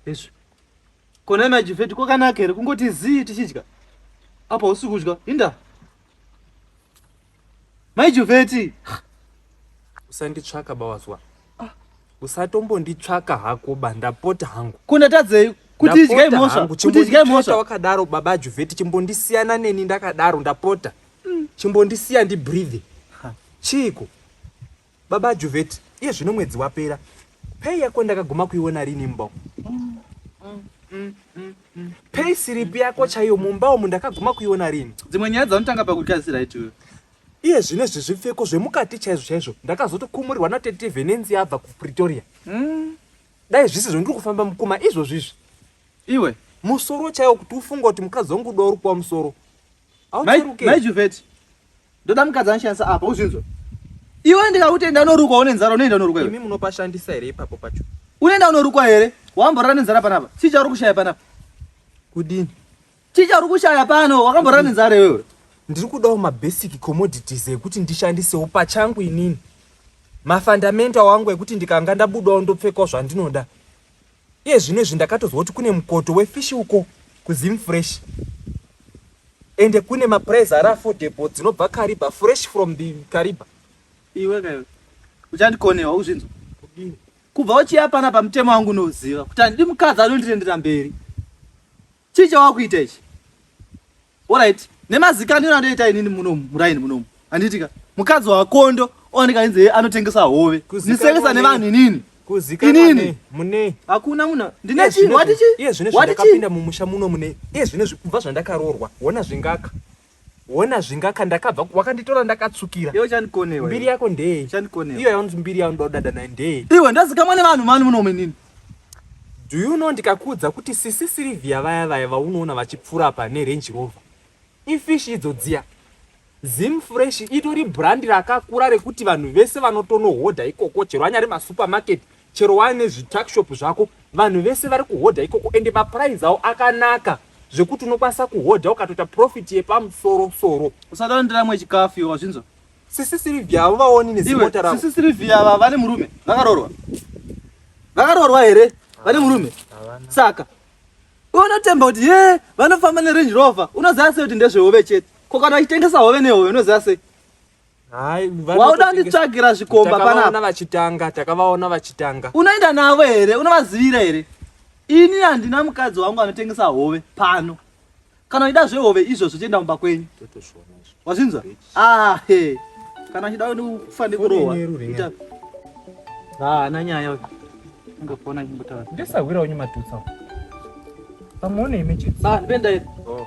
Yesu. Kona majifeti kwakanaka here kungoti zii tichidya. Apa usi kudya. Inda. Mai Juveti. Usanditsvaka bawazwa. Ah. Usatombonditsvaka hako bandapota hangu. Kuna tadzei kuti idya imosva. Kuti idya imosva. Wakadaro baba Juveti chimbondisiyana neni ndakadaro ndapota. Mm. Chimbondisiya ndi breathe. Chiko. Baba Juveti, iye zvino mwedzi wapera. Pay yako ndakaguma kuiona rini mbo? Pay slip yako chaiyo mumba umu ndakaguma kuiona rini? Dzimwe nyaya dzaunotanga pakukasira itiwe. Iye zvino izvi zvipfeko zvemukati chaizvo chaizvo ndakazotokumurirwa natete Venenzi yabva kuPretoria. Dai zvisizvo ndiri kufamba mukuma izvozvi izvi. Iwe? Musoro chaiwo kuti ufunga kuti mukadzi wangu uda uri kuwa musoro. maijuveti ndoda mukadzi anoshandisa apa uzvinzwa iwe ndikakuti enda unorukwa une nzara unoenda unorukwa imi munopashandisa here ipapo pacho unoenda unorukwa here wamborara nenzara panapa chii chauri kushaya panapa kudini chii chauri kushaya pano wakamborara nenzara iwewe ndiri kudawo mabasic commodities ekuti ndishandisewo pachangu inini mafundamento awangu ekuti ndikanga ndabudawo ndopfekawo zvandinoda Iye zvino izvi ndakatonzwa kuti kune mukoto wefish uko kuZim Fresh ende kune maprize ari affordable dzinobva Kariba fresh from the Kariba. Iwe kayo uchandikonewa uzvinzwa kubva uchiya pana pamutemo wangu unoziva kuti handidi mukadzi anondirendera mberi. Chii chawakuita ichi? Alright, nemazika ndino andoita inini muno muraini muno. Anditika mukadzi wakondo owanika ainzi anotengesa hove. Nisengesa nevanhu inini. Kuzika inini mune hakuna munhu ndine chii wati chii? Iye zvine zvakapinda mumusha muno mune. Iye zvine zvikuva zvandakarorwa. Wona zvingaka. Wona zvingaka ndakabva wakanditora ndakatsukira. Iwe chandikonewa. Mbiri yako ndeye. Chandikonewa. Iyo yaunzi mbiri yako ndoda dada naye ndeye. Iwe ndazikamwa nevanhu mani muno menini. Do you know ndikakuudza kuti sisi Sylvia vaya vaya vaunoona vachipfura apa ne Range Rover. Ifish idzo dziya. Zim Fresh itori brand rakakura rekuti vanhu vese vanotonohodha ikoko chero anyari ma supermarket chero waine zvituckshop zvako vanhu vese vari kuhodha ikoko ende maprize awo akanaka zvekuti unokwanisa kuhodha ukatoita profit yepamusoro soro usada ndiramwe chikafu iwe wazvinzwa sisi silivia avo vaoni nezimota ravo sisi silivia ava vane murume vakaroorwa vakaroorwa here vane murume saka unotemba kuti ye vanofamba nerange rover unoziva sei kuti ndezvehove chete ko kana vachitengesa hove nehove unoziva sei wauda kunditsvagira zvikomba panapa vachitanga takavaona vachitanga unoenda navo here unovazivira here ini handina mukadzi wangu anotengesa hove pano kana uchida zvehove izvozvo chienda kumba kwenyu wazvinzwa ahe ah, kana uchida kufa nekurohwa haana ah, nyaya ungafona chimbotaura ndisahwira wenyu matutsa pamwe une imechitsa ah, ndipenda oh.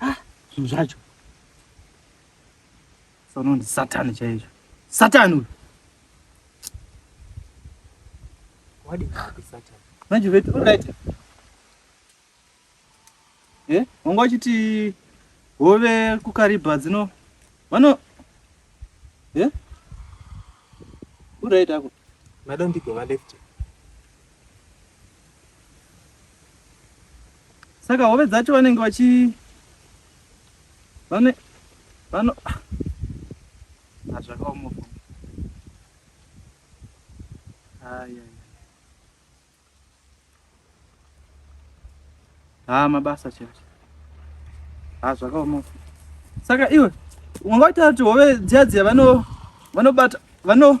Ah, zvinhu zvacho sono ndisatani chaizvo satani uyu manje veti urit e wanga wachiti hove kukaribha dzino vano e eh? urit ako madondigova lefti saka hove dzacho vanenge vachi vane vano hazvakaoma ah, haya haa ah, mabasa chete haa ah, zvakaoma saka iwe wanga waita kuti hove dziya dziya vanobata vano, vano